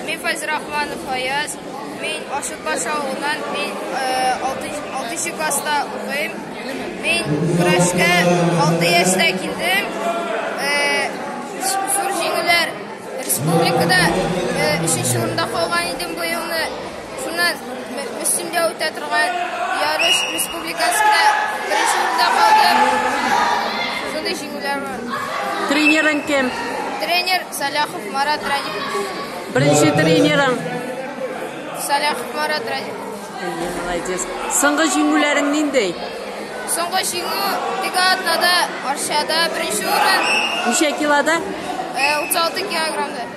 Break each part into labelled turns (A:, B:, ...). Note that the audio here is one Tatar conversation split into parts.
A: Мин Файзер Рахманов Фаяз. Мин Ашыкбаш авылыннан мин 6 класста укыйм. Мин көрәшкә 6 яшьтә килдем. Зур җиңүләр республикада 3 урында калган идем быелны. Шуннан өстендә үтә торган ярыш республикасында беренче урында калдым. Шундый җиңүләр бар. Тренерың
B: кем? Тренер
A: Саляхов Марат Радикович. Беренче
B: тренерың?
A: Саляхов Марат Радикович. Әйе, молодец.
B: Соңгы җиңүләрең ниндәй? Соңгы
A: җиңү Тегатнада, Арчада беренче урын. Ничә килода?
B: 36 э,
A: килограммда.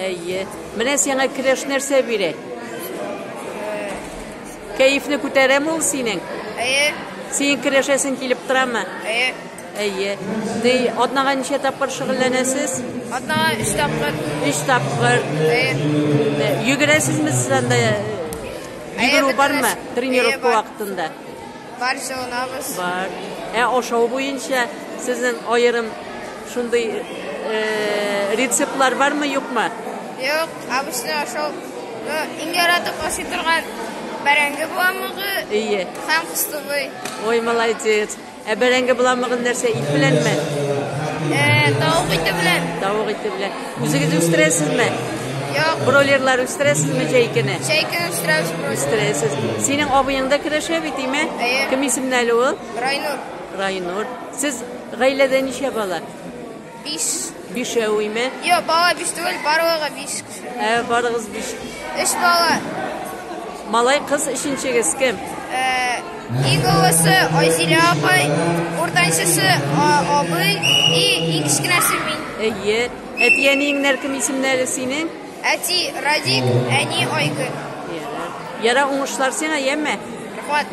A: Әйе.
B: Менә сиңа келәш нәрсә бирә? Кәефне күтәрәме ул синең? Әйе. Синең келәшәсең килеп торамы? Әйе. Әйе. Ди, атнага ничә тапкыр шөгыльләнәсез? Атнага 3
A: тапкыр. 3 тапкыр.
B: Әйе. Йөгерәсезме сез анда? Йөгерү бармы тренировка вакытында? Бар,
A: җылынабыз. Бар. Ә
B: ашау буенча сезнең аерым шундый э, рецептлар бармы, юкмы? Юк,
A: обычный ашау. Ну, иң яратып ашый торган бәрәңге буламыгы Ие. һәм
B: кыстыбый.
A: Ой, молодец.
B: Ә бәрәңге буламыгын нәрсә ит беләнме? Э,
A: тавык ите белән. Тавык ите белән.
B: Үзегез үстерәсезме? Юк.
A: Бройлерлар үстерәсезме
B: җәйкене? Җәйкене үстерәбез бройлер.
A: Үстерәсез.
B: Синең абыең да көрәшә бит, име? Әйе. Кем исемле әле ул? Райнур.
A: Райнур.
B: Сез гаиләдә ничә бала? Биш.
A: Бишәү, име?
B: Юк, бала биш түгел,
A: барлыгы биш кеше. Ә барыгыз биш.
B: Өч бала.
A: Малай,
B: кыз өченчегез кем? Э, Иң
A: олысы Айзилә апай, уртанчысы абый и иң кечкенәсе мин. Әйе.
B: Әти әниеңнәр кем исемнәре синең? Әти Радик, әни
A: Айгөл. Ярар,
B: уңышлар сиңа,
A: яме?
B: Рәхмәт.